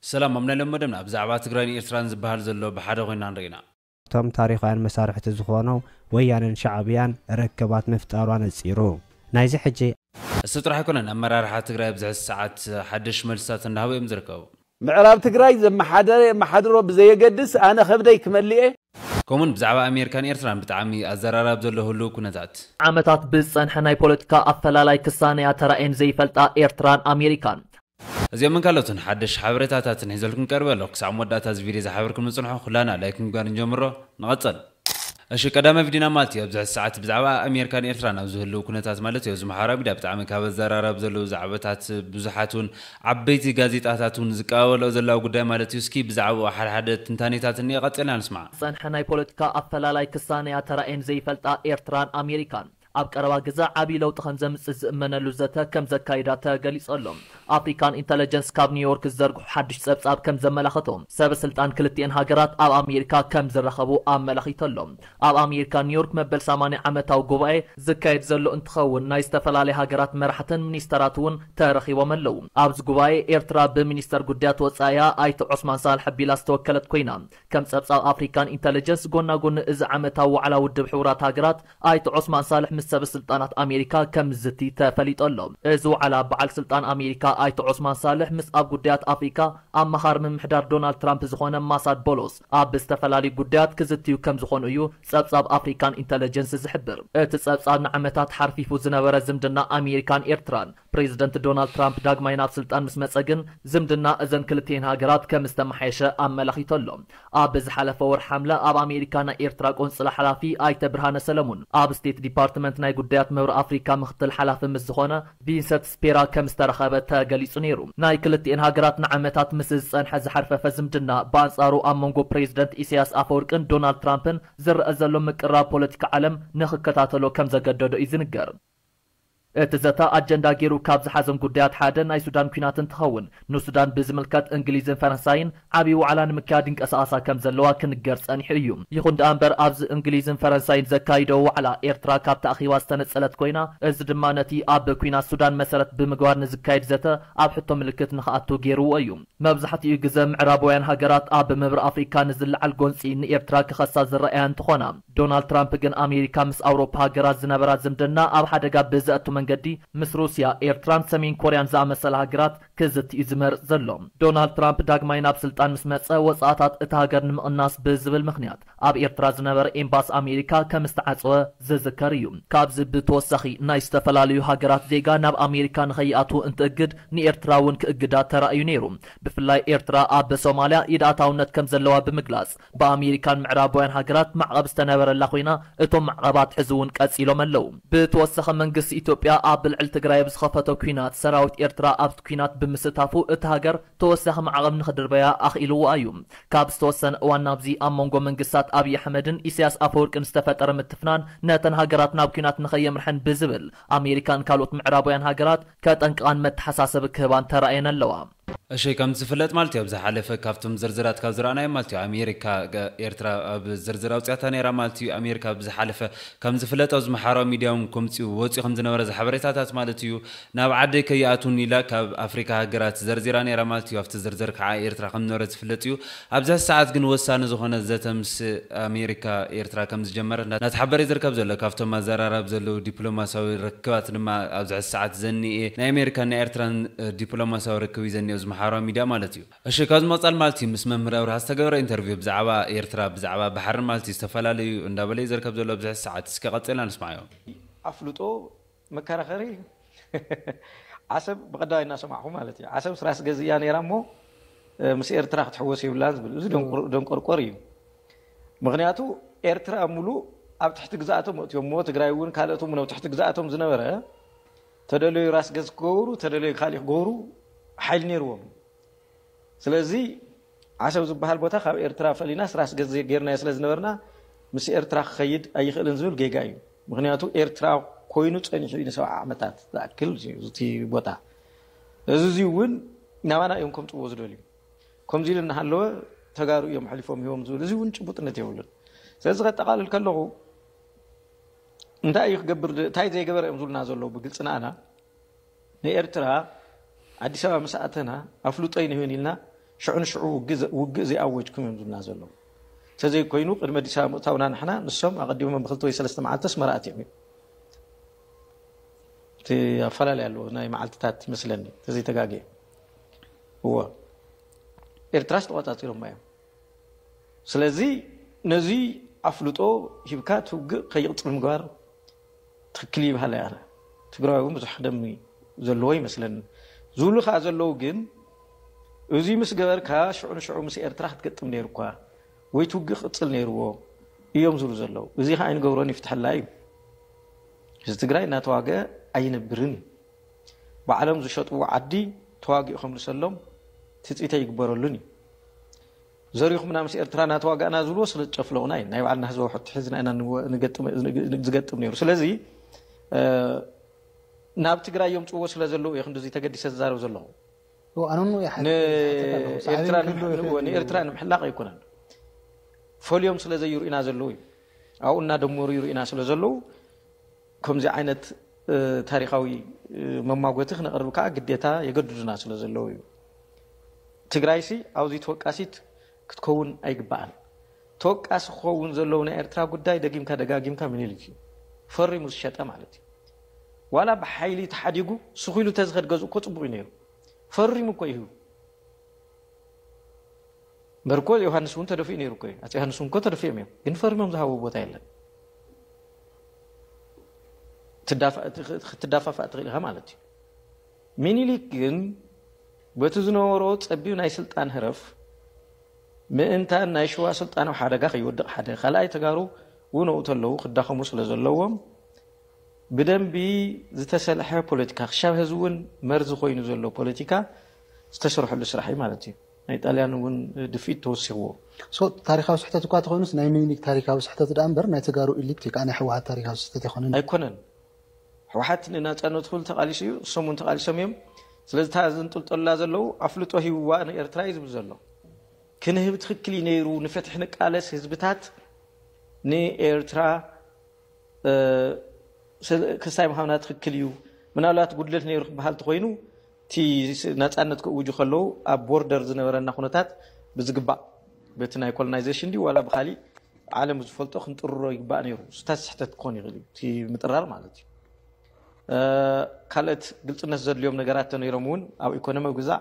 ሰላም ኣብ ናይ ሎሚ መደብና ብዛዕባ ትግራይን ኤርትራን ዝበሃል ዘሎ ብሓደ ኮይንና ንርኢና። እቶም ታሪኻውያን መሳርሕቲ ዝኾኑ ወያነን ሻዕብያን ርክባት ምፍጣሩ ኣነጺሩ ናይዚ ሕጂ። እሱ ጥራሕ ኣይኮነን ኣመራርሓ ትግራይ ኣብዚ ሕዚ ሰዓት ሓደሽ መልስታት እንዳሃቡ እዮም ዝርከቡ። ምዕራብ ትግራይ ዘመሓደረ የመሓድሮ ብዘየገድስ ኣነ ከብደይ ክመልእየ። ከምኡ ውን ብዛዕባ ኣሜርካን ኤርትራን ብጣዕሚ ኣዘራራቢ ዘሎ ህሉው ኩነታት። ዓመታት ብዝጸንሐ ናይ ፖለቲካ ኣፈላላይ ክሳነያ ተራእየን ዘይፈልጣ ኤርትራን ኣሜሪካን፣ እዚኦምን ካልኦትን ሓደሽቲ ሓበሬታታትን ሒዘልኩም ይቀርብ ኣለኩ ክሳዕ መወዳእታ እዚ ቪድዮ ዝሓበርኩም ንጽንሖ ኩላና ላይክ ምግባር ንጀምሮ ንቐጽል። እሺ ቀዳማይ ቪድዮና ማለት እዩ ኣብዚ ሕዚ ሰዓት ብዛዕባ ኣሜርካን ኤርትራን ኣብ ዝህልው ኩነታት ማለት እዩ ኣብዚ ማሕበራዊ ሚድያ ብጣዕሚ ካብ ኣዘራራቢ ዘለው ዛዕበታት ብዙሓት ውን ዓበይቲ ጋዜጣታት ውን ዝቀባበልኦ ዘለዋ ጉዳይ ማለት እዩ እስኪ ብዛዕብኡ ሓደ ሓደ ትንታኔታት እንኤ ቀጺልና ንስማዕ። ዝጸንሐ ናይ ፖለቲካ ኣፈላላይ ክሳነያ ተራእየን ዘይፈልጣ ኤርትራን ኣሜሪካን ኣብ ቀረባ ግዘ ዓብዪ ለውጢ ከምዘምፅእ ዝእመነሉ ዘተ ከምዘካይዳ ተገሊፁ ኣሎ። ኣፍሪካን ኢንተለጀንስ ካብ ኒውዮርክ ዝዘርግሖ ሓዱሽ ፀብፃብ ከምዘመላኸቶ ሰበ ስልጣን ክልቲኤን ሃገራት ኣብ ኣሜሪካ ከምዝራኸቡ ኣመላኺቱ ኣሎ። ኣብ ኣሜሪካ ኒውዮርክ መበል ሰማንያ ዓመታዊ ጉባኤ ዝካየድ ዘሎ እንትኸውን ናይ ዝተፈላለያ ሃገራት መራሕትን ሚኒስተራት እውን ተረኺቦም ኣለው። ኣብዚ ጉባኤ ኤርትራ ብሚኒስተር ጉዳያት ወፃኢኣ ኣይተ ዖስማን ሳልሕ ኣቢላ ዝተወከለት ኮይና ከም ፀብፃብ ኣፍሪካን ኢንተለጀንስ ጎናጎኒ እዚ ዓመታዊ ዋዕላ ውድብ ሕቡራት ሃገራት ኣይተ ዖስማን ሳልሕ ምስ ሰበ ስልጣናት ኣሜሪካ ከምዝዝቲ ተፈሊጡ ኣሎ። እዚ ዋዕላ በዓል ስልጣን ኣሜሪካ ኣይተ ዖስማን ሳልሕ ምስ ኣብ ጉዳያት ኣፍሪካ ኣማኻሪ ምምሕዳር ዶናልድ ትራምፕ ዝኾነ ማሳድ ቦሎስ ኣብ ዝተፈላለዩ ጉዳያት ክዝትዩ ከምዝኾኑ እዩ ፀብፃብ ኣፍሪካን ኢንተለጀንስ ዝሕብር። እቲ ፀብፃብ ንዓመታት ሓርፊፉ ዝነበረ ዝምድና ኣሜሪካን ኤርትራን ፕሬዝደንት ዶናልድ ትራምፕ ዳግማይ ናብ ስልጣን ምስ መጸ ግን ዝምድና እዘን ክልቲኤን ሃገራት ከም ዝተመሓየሸ ኣመላኺቱ ኣሎ። ኣብ ዝሓለፈ ወርሒ ሓምለ ኣብ ኣሜሪካ ናይ ኤርትራ ቆንጽላ ሓላፊ ኣይተ ብርሃነ ሰለሙን ኣብ ስቴት ዲፓርትመንት ናይ ጉዳያት ምብራቕ ኣፍሪካ ምኽትል ሓላፊ ምስ ዝኾነ ቪንሰት ስፔራ ከም ዝተራኸበ ተገሊጹ ነይሩ። ናይ ክልቲኤን ሃገራት ንዓመታት ምስ ዝጸንሐ ዝሓርፈፈ ዝምድና ብኣንጻሩ ኣብ መንጎ ፕሬዝደንት ኢሰያስ ኣፈወርቅን ዶናልድ ትራምፕን ዝረኣ ዘሎ ምቅርራብ ፖለቲካ ዓለም ንኽከታተሎ ከም ዘገደዶ እዩ ዝንገር። እቲ ዘተ ኣጀንዳ ገይሩ ካብ ዝሓዘም ጉዳያት ሓደ ናይ ሱዳን ኲናት እንትኸውን፣ ንሱዳን ብዝምልከት እንግሊዝን ፈረንሳይን ዓብዪ ዋዕላ ንምክያድ ይንቀሳቐሳ ከም ዘለዋ ክንገር ጸኒሑ እዩ። ይኹን ደኣ እምበር ኣብዚ እንግሊዝን ፈረንሳይን ዘካይደኦ ዋዕላ ኤርትራ ካብቲ ኣኼባ ዝተነጸለት ኮይና፣ እዚ ድማ ነቲ ኣብ ኲናት ሱዳን መሰረት ብምግባር ንዝካየድ ዘተ ኣብ ሕቶ ምልክት ንኽኣቱ ገይርዎ እዩ። መብዛሕትኡ ግዘ ምዕራባውያን ሃገራት ኣብ ምብራቕ ኣፍሪካ ንዝለዓል ጎንጺ ንኤርትራ ክኸሳ ዝረኣያ እንትኾና፣ ዶናልድ ትራምፕ ግን ኣሜሪካ ምስ ኣውሮፓ ሃገራት ዝነበራ ዝምድና ኣብ ሓደጋ ብዘእቱ መንገዲ ምስ ሩስያ፣ ኤርትራን ሰሜን ኮርያን ዝኣመሰላ ሃገራት ክዝቲ እዩ ዝመርጽ ዘሎ። ዶናልድ ትራምፕ ዳግማይ ናብ ስልጣን ምስ መጸ ወጻእታት እታ ሃገር ንምቕናስ ብዝብል ምኽንያት ኣብ ኤርትራ ዝነበረ ኤምባሲ ኣሜሪካ ከም ዝተዓጸወ ዝዝከር እዩ። ካብዚ ብተወሳኺ ናይ ዝተፈላለዩ ሃገራት ዜጋ ናብ ኣሜሪካ ንኸይኣትዉ እንትእግድ ንኤርትራ እውን ክእግዳ ተራእዩ ነይሩ። ብፍላይ ኤርትራ ኣብ ሶማልያ ኢድ ኣታውነት ከም ዘለዋ ብምግላጽ ብኣሜሪካን ምዕራባውያን ሃገራት ማዕቐብ ዝተነበረላ ኮይና እቶም ማዕቐባት ሕዚ እውን ቀፂሎም ኣለው። ብተወሳኺ መንግስቲ ኢትዮጵያ ኣብ ልዕሊ ትግራይ ኣብ ዝኸፈቶ ኲናት ሰራዊት ኤርትራ ኣብቲ ኲናት ብምስታፉ እታ ሃገር ተወሳኺ ማዕቐብ ንኽድርበያ ኣኽኢልዋ እዩ። ካብ ዝተወሰነ እዋን ናብዚ ኣብ መንጎ መንግስታት ኣብይ ኣሕመድን ኢሳያስ ኣፈወርቅን ዝተፈጠረ ምትፍናን ነተን ሃገራት ናብ ኲናት ንኸየምርሐን ብዝብል ኣሜሪካን ካልኦት ምዕራባውያን ሃገራት ከጠንቅቓን መተሓሳሰቢ ክህባን ተራእየን ኣለዋ። እሺ ከም ዝፍለጥ ማለት እዩ ኣብ ዝሓለፈ ካብቶም ዝርዝራት ካብ ዝረኣናዮም ማለት እዩ ኣሜሪካ ኤርትራ ኣብ ዝርዝር ኣውጽያታ ነይራ ማለት እዩ ኣሜሪካ ኣብ ዝሓለፈ ከም ዝፍለጥ ኣብዚ ማሕበራዊ ሚድያ እውን ከምጽኡ ወጽዩ ከም ዝነበረ ዝሓበሬታታት ማለት እዩ ናብ ዓደይ ከይኣትውን ኢላ ካብ ኣፍሪካ ሃገራት ዘርዚራ ነይራ ማለት እዩ ኣብቲ ዝርዝር ከዓ ኤርትራ ከም ዝነበረት ዝፍለጥ እዩ ኣብዛ ሰዓት ግን ወሳኒ ዝኾነ ዘተ ምስ ኣሜሪካ ኤርትራ ከምዝጀመረት እናተሓበረ'ዩ ዝርከብ ዘሎ። ካብቶም ኣዘራራቢ ዘለዉ ዲፕሎማስያዊ ርክባት ድማ ኣብዚ ሕዚ ሰዓት ዘኒኤ ናይ ኣሜሪካን ናይ ኤርትራን ዲፕሎማስያዊ ርክብ'ዩ ዘኒኦ እዚ መሓውራዊ ሚድያ ማለት'ዩ። እሺ ካብዚ ምቕጻል ማለት'ዩ ምስ መምህር ኣብርሃ ዝተገበረ ኢንተርቪው ብዛዕባ ኤርትራ ብዛዕባ ባሕርን ማለት'ዩ ዝተፈላለዩ እንዳበለ'ዩ ዝርከብ ዘሎ ኣብዚ ሕዚ ሰዓት። እስከ ቀጺልና ንስማዓዮ። ኣፍልጦ መከራኸሪ እዩ ዓሰብ ብቀዳማይ እናሰማዕኹ ማለት እዩ ዓሰብስ ራስ ገዝ እያ ነይራ እሞ ምስ ኤርትራ ክትሕወስ የብላን ዝብል እዚ ደንቆርቆር እዩ ምክንያቱ ኤርትራ ሙሉእ ኣብ ትሕቲ ግዛኣቶም መእትዮም እሞ ትግራይ እውን ካልኦት እውን ኣብ ትሕቲ ግዛኣቶም ዝነበረ ተደለዩ ራስ ገዝ ክገብሩ ተደለዩ ካሊእ ክገብሩ ሓይሊ ነይርዎም ስለዚ ዓሰብ ዝበሃል ቦታ ካብ ኤርትራ ፈሊናስ ራስ ገዝ ጌርናዮ ስለ ዝነበርና ምስ ኤርትራ ክኸይድ ኣይኽእልን ዝብል ጌጋ እዩ። ምኽንያቱ ኤርትራ ኮይኑ ጸኒሑ እዩ ንሰብዓ ዓመታት ዝኣክል እቲ ቦታ። እዚ እዚ እውን ናባና እዮም ከምጽዎ ዝደልዩ። ከምዚ ኢሉ እናሃለወ ተጋሩ እዮም ኣሕሊፎም ሂቦም ዝብል እዚ እውን ጭቡጥነት የብሉን። ስለዚ ከጠቓልል ከለኹ እንታይ እዩ ክገብር እንታይ ዘይገበረ እዮም ዝብሉና ዘለዉ ብግልጺ ንኣና ንኤርትራ ኣዲስ ኣበባ ምስ ኣተና ኣፍልጦ ኣይንህብን ኢልና ሽዑ ንሽዑ ውግእ ዘይኣወጅኩም እዮም ዝብሉና ዘለዉ። እንተዘይኮይኑ ቅድሚ ኣዲስ ኣበባ ምእታውና ንሕና ንሶም ኣቐዲሞም ብክልተ ወይ ሰለስተ መዓልቲ ኣስመራ ኣትዮም እዮም። እቲ ኣፈላለይ ኣለዎ ናይ መዓልትታት ይመስለኒ ተዘይተጋግየ እዎ ኤርትራስ ተቆጻጺሮማ እዮም ስለዚ ነዚ ኣፍልጦ ሂብካ ትውግእ ከይቕጽል ምግባር ትክክል ይብሃል እየ ኣነ ትግራዋይ እውን ብዙሕ ደም ዘለዎ ይመስለኒ ዝብሉ ከዓ ዘለዉ ግን እዙይ ምስ ገበርካ ሽዑ ንሽዑ ምስ ኤርትራ ክትገጥም ነይሩኳ ወይ ትውግእ ክቅፅል ነይርዎ እዮም ዝብሉ ዘለዉ እዙይ ከዓ ኣይንገብሮን ይፍትሐላ እዩ ህዝቢ ትግራይ እናተዋገ ኣይነብርን እዩ ባዕሎም ዝሸጥዎ ዓዲ ተዋጊኡ ከምልሰሎም ትፅኢተ ይግበረሉን እዩ ዘሪኹምና ምስ ኤርትራ ናተዋጋእና ዝብልዎ ስለ ዝጨፍለቑና እዩ ናይ ባዕልና ህዝባዊ ሕቶ ሒዝና ኢና ዝገጥም ነይሩ ስለዚ ናብ ትግራይ የምፅዎ ስለ ዘለዉ እየ ክንድዚ ተገዲሰ ዝዛረብ ዘለኹ ንኤርትራ ንምሕላቕ ኣይኮነን ፈልዮም ስለ ዘይርኡና ዘለዉ እዩ ኣብኡ እናደመሩ ይርኡና ስለ ዘለዉ ከምዚ ዓይነት ታሪኻዊ መማጎቲ ክነቕርብ ከኣ ግዴታ የገድዱና ስለ ዘለዉ እዩ። ትግራይሲ ኣብዙይ ተወቃሲት ክትከውን ኣይግባኣን። ተወቃሲ ክኸውን ዘለዎ ናይ ኤርትራ ጉዳይ ደጊምካ ደጋጊምካ ምኒልክ እዩ። ፈሪሙ ዝሸጠ ማለት እዩ። ዋላ ብሓይሊ ተሓዲጉ ስኺሉ ተዝኸድ ገዝኡ እኮ ጽቡቕ እዩ ነይሩ። ፈሪሙ እኮ እዩ በርኮ ዮሃንስ እውን ተደፊኡ ነይሩ እኮ እዩ። ኣፄ ዮሃንስ እውን እኮ ተደፊኦም እዮም፣ ግን ፈሪሞም ዝሃቡ ቦታ የለን። ክትዳፋፋእ ትኽእል ኢኻ ማለት እዩ። ሚኒሊክ ግን በቲ ዝነበሮ ፀቢብ ናይ ስልጣን ህረፍ ምእንታን ናይ ሽዋ ስልጣን ኣብ ሓደጋ ከይወድቕ ሓደ ካልኣይ ተጋሩ እውን ኣብኡ ተለዉ ክዳኸሙ ስለ ዘለዎም ብደንቢ ዝተሰልሐ ፖለቲካ ክሻብ ህዚ እውን መርዚ ኮይኑ ዘሎ ፖለቲካ ዝተሰርሐሉ ስራሕ እዩ ማለት እዩ። ናይ ጣልያን እውን ድፍኢት ተወሲኽዎ። So ታሪኻዊ ስሕተት እኳ ተኾይኑስ ናይ ሚኒሊክ ታሪካዊ ስሕተት ድኣ እምበር ናይ ተጋሩ ኢሊት ወይ ከዓ ናይ ህወሓት ታሪካዊ ስሕተት ኣይኮነን እዩ። ኣይኮነን። ህወሓት ንናፃነቱ ክብል ተቃሊሱ እዩ። እሶም እውን ተቃሊሶም እዮም። ስለዚ እታ ዘንጥልጠሉላ ዘለዉ ኣፍልጦ ሂብዋ ንኤርትራ እዩ ዝብል ዘሎ። ክንህብ ትኽክል እዩ ነይሩ። ንፍትሒ ንቃለስ ህዝብታት ንኤርትራ ክሳይ ምሃብና ትኽክል እዩ። ምናልባት ጉድለት ነይሩ ክበሃል ተኾይኑ እቲ ናጻነት ክእውጁ ከለዉ ኣብ ቦርደር ዝነበረና ኩነታት ብዝግባእ በቲ ናይ ኮሎናይዘሽን ድዩ ዋላ ብካሊእ ዓለም ብዝፈልጦ ክንጥርሮ ይግባእ ነይሩ። ስታት ስሕተት ክኾን ይኽእል እዩ እቲ ምጥራር ማለት እዩ። ካልኦት ግልፅነት ዘድልዮም ነገራት ተነይሮም እውን ኣብ ኢኮኖሚ ግዛዕ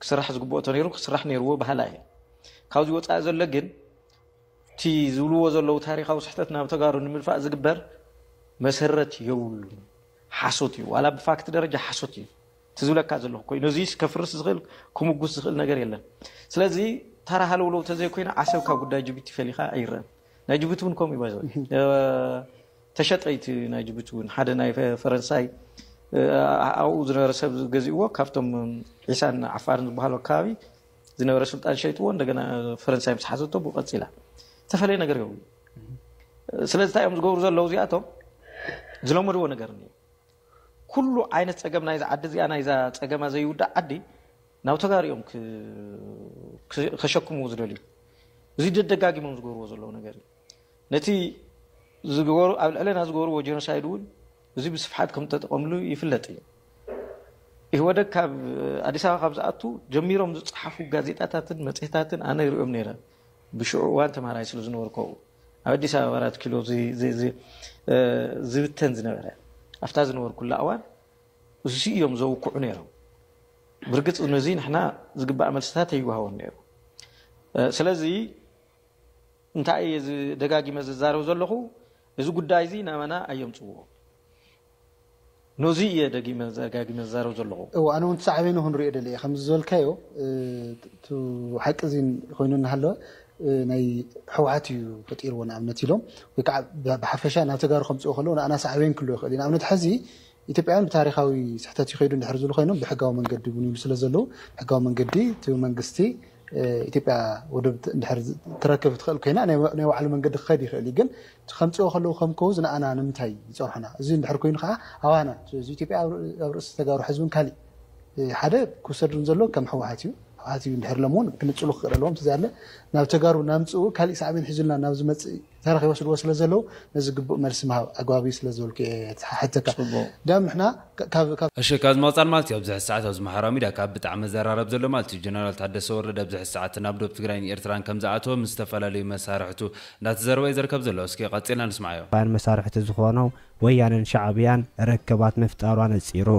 ክስራሕ ዝግብኦ ተነይሩ ክስራሕ ነይርዎ ባህላ እየ። ካብዚ ወፃኢ ዘሎ ግን እቲ ዝብልዎ ዘለዉ ታሪካዊ ስሕተት ናብ ተጋሩ ንምልፋእ ዝግበር መሰረት የብሉን። ሓሶት እዩ ዋላ ብፋክት ደረጃ ሓሶት እዩ እቲ ዝብለካ ዘለኹ ኮይኑ እዚስ ከፍርስ ዝኽእል ክሙጉስ ዝኽእል ነገር የለን ስለዚ ተራ ሃለውለው ተዘይኮይኑ ዓሰብ ካብ ጉዳይ ጅቡቲ ፈሊኻ ኣይረን ናይ ጅቡቲ እውን ከምኡ ባይዘ ተሸጠይቲ ናይ ጅቡቲ እውን ሓደ ናይ ፈረንሳይ ኣብኡ ዝነበረ ሰብ ገዚእዎ ካብቶም ዒሳን ዓፋርን ዝበሃሉ ኣከባቢ ዝነበረ ስልጣን ሸይጥዎ እንደገና ፈረንሳይ ምስ ሓዘቶ ብኡ ቀፂላ ዝተፈለየ ነገር የብሉ ስለዚ እንታይ እዮም ዝገብሩ ዘለዉ እዚኣቶም ዝለመድዎ ነገር እዩ ኩሉ ዓይነት ፀገም ናይዛ ዓዲ እዚኣ ናይዛ ፀገማ ዘይውዳእ ዓዲ ናብ ተጋሩ እዮም ከሸክምዎ ዝደልዩ እዚ ደደጋጊሞም ዝገብርዎ ዘለዉ ነገር እዩ ነቲ ዝገበሩ ኣብ ልዕለና ዝገበርዎ ጀኖሳይድ እውን እዚ ብስፍሓት ከም ተጠቐምሉ ይፍለጥ እዩ ኢህወደግ ካብ ኣዲስ ኣበባ ካብ ዝኣቱ ጀሚሮም ዝፀሓፉ ጋዜጣታትን መፅሄታትን ኣነ ይሪኦም ነይረ ብሽዑ እዋን ተምሃራይ ስለ ዝነበርኩ ኣብኡ ኣብ ኣዲስ ኣበባ ኣራት ኪሎ ዝብተን ዝነበረ ኣብታ ዝነበርኩላ እዋን እዙ እዮም ዘውክዑ ነይሮም። ብርግፅ ነዚ ንሕና ዝግባእ መልስታት ኣይወሃቦን ነይሩ። ስለዚ እንታይ እየ ደጋጊመ ዝዛረብ ዘለኹ እዚ ጉዳይ እዚ ናባና ኣየምፅዎ። ኖዙይ እየ ደጊመ ደጋጊመ ዝዛረብ ዘለኹ። እወ ኣነ ውን ትሳዕቤኑ ክንሪኦ ደልየ ከምዚ ዝበልካዮ እቲ ሓቂ እዚ ኮይኑ እናሃለወ ናይ ሕውሓት እዩ ፈጢርዎ ንኣብነት ኢሎም ወይ ከዓ ብሓፈሻ ናብ ተጋሩ ከምፅእዎ ከለዉ ንኣና ሳዕቤን ክህልዎ ይኽእል እዩ ንኣብነት ሐዚ ኢትዮጵያውያን ብታሪኻዊ ስሕተት እዩ ከይዱ እንድሕር ዝብሉ ኮይኖም ብሕጋዊ መንገዲ እውን ይብሉ ስለዘለዉ ሕጋዊ መንገዲ እቲ መንግስቲ ኢትዮጵያ ወደብ እንድሕር ትረክብ ትኽእል ኮይና ናይ ባዕሉ መንገዲ ክኸድ ይኽእል እዩ ግን ከምጽኦ ከለዉ ከም ኮውዝ ንኣና ንምንታይ ይጸርሑና እዚ እንድሕር ኮይኑ ከኣ ኣባና እዚ ኢትዮጵያ ኣብ ርእሲ ተጋሩ ሕዚ ውን ካሊእ ሓደ ክውሰድ ዘሎ ከም ሕወሓት እዩ ሕወሓት እዩ እንድሕር ኢሎም ውን ክንጽሉ ክክእል ኣለዎም ተዘያለ ናብ ተጋሩ ናምጽኡ ካሊእ ሳዕቤን ሒዙልና ናብ ዝመጽእ ተረኽ ይወስድዎ ስለ ዘለዉ ነዚ ግቡእ መልሲ ምሃብ ኣግባብ እዩ ስለ ዝበልኩ እየ ተሓተካ ዳም ንሕና ካብ እሺ ካብዚ ምቅጻል ማለት እዩ ኣብዚ ሕዚ ሰዓት ኣብዚ ማሕበራዊ ሚድያ ካብ ብጣዕሚ መዘራረቢ ዘሎ ማለት እዩ ጀነራል ታደሰ ወረደ ኣብዚ ሕዚ ሰዓት ናብ ዶብ ትግራይን ኤርትራን ከምዝኣተወ ምስ ዝተፈላለዩ መሳርሕቱ እንዳተዘረበ እዩ ዘርከብ ዘሎ እስኪ ቀጺልና ንስምዓዮ። ን መሳርሕቲ ዝኾኖ ወያነን ሻዕብያን ርክባት ምፍጣሩ ኣነጺሩ።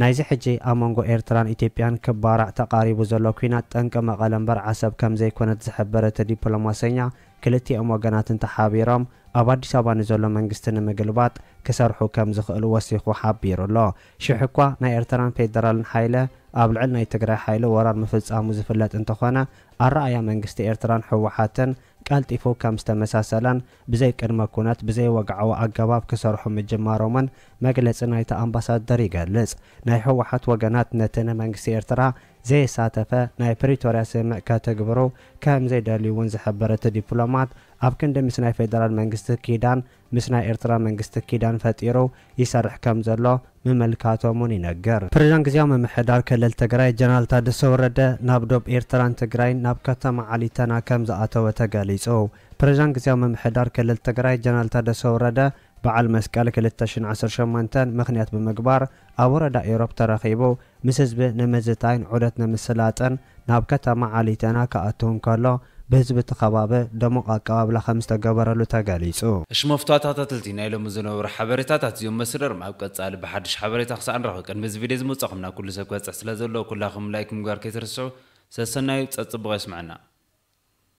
ናይዚ ሕጂ ኣብ መንጎ ኤርትራን ኢትዮጵያን ክባራዕ ተቓሪቡ ዘሎ ኲናት ጠንቂ መቐለ እምበር ዓሰብ ከምዘይኮነት ዝሐበረ እቲ ዲፕሎማሰኛ ክልቲኦም ወገናት እንተሓቢሮም ኣብ ኣዲስ ኣበባ ንዘሎ መንግስቲ ንምግልባጥ ክሰርሑ ከምዝኽእሉ ወሲኹ ሓቢሩ ኣሎ። ሽሕኳ ናይ ኤርትራን ፌደራልን ሓይለ ኣብ ልዕሊ ናይ ትግራይ ሓይሊ ወራር ምፍጻሙ ዝፍለጥ እንተኾነ ኣረኣእያ መንግስቲ ኤርትራን ህወሓትን ቀልጢፉ ከም ዝተመሳሰለን ብዘይ ቅድመ ኩነት ብዘይ ወግዓዊ ኣገባብ ክሰርሑ ምጅማሮምን መግለጺ ናይቲ ኣምባሳደር ይገልጽ። ናይ ህወሓት ወገናት ነቲ ንመንግስቲ ኤርትራ ዘየሳተፈ ናይ ፕሪቶርያ ስምምዕ ከትግብሩ ከም ዘይደልዩ'ውን ዝሕብር እቲ ዲፕሎማት፣ ኣብ ክንዲ ምስ ናይ ፌደራል መንግስቲ ኪዳን ምስ ናይ ኤርትራ መንግስቲ ኪዳን ፈጢሩ ይሰርሕ ከም ዘሎ ምምልካቶም'ውን ይነገር። ፕሬዝዳንት ግዝያዊ ምምሕዳር ክልል ትግራይ ጀነራል ታደሰ ወረደ ናብ ዶብ ኤርትራን ትግራይን ናብ ከተማ ዓሊተና ከም ዝኣተወ ተገሊጹ። ፕሬዝዳንት ግዝያዊ ምምሕዳር ክልል ትግራይ ጀነራል ታደሰ ወረደ በዓል መስቀል ክልተ ሽሕን ዓሰርተ ሸሞንተን ምኽንያት ብምግባር ኣብ ወረዳ ኢሮብ ተረኺቡ ምስ ህዝቢ ንምዝታይን ዑደት ንምስላጥን ናብ ከተማ ዓሊተና ክኣቱ እንከሎ ብህዝቢ እቲ ከባቢ ደሙቕ ኣቀባብላ ከምዝተገበረሉ ተገሊፁ። እሺ መፍቷታታትልቲ ናይ ሎሚ ዝነበሩ ሓበሬታታት እዚኦም መስርርም ኣብ ቀጻሊ ብሓድሽ ሓበሬታ ክሳዕ ንራኸብ ቅድሚ እዚ ቪድዮ ዝመጻኹም ናብ ኩሉ ሰብ ክበጽሕ ስለ ዘለዎ ኩላኹም ላይክ ምግባር ከይትርስዑ ሰሰናዩ ጸጽቡቕ የስመዐና።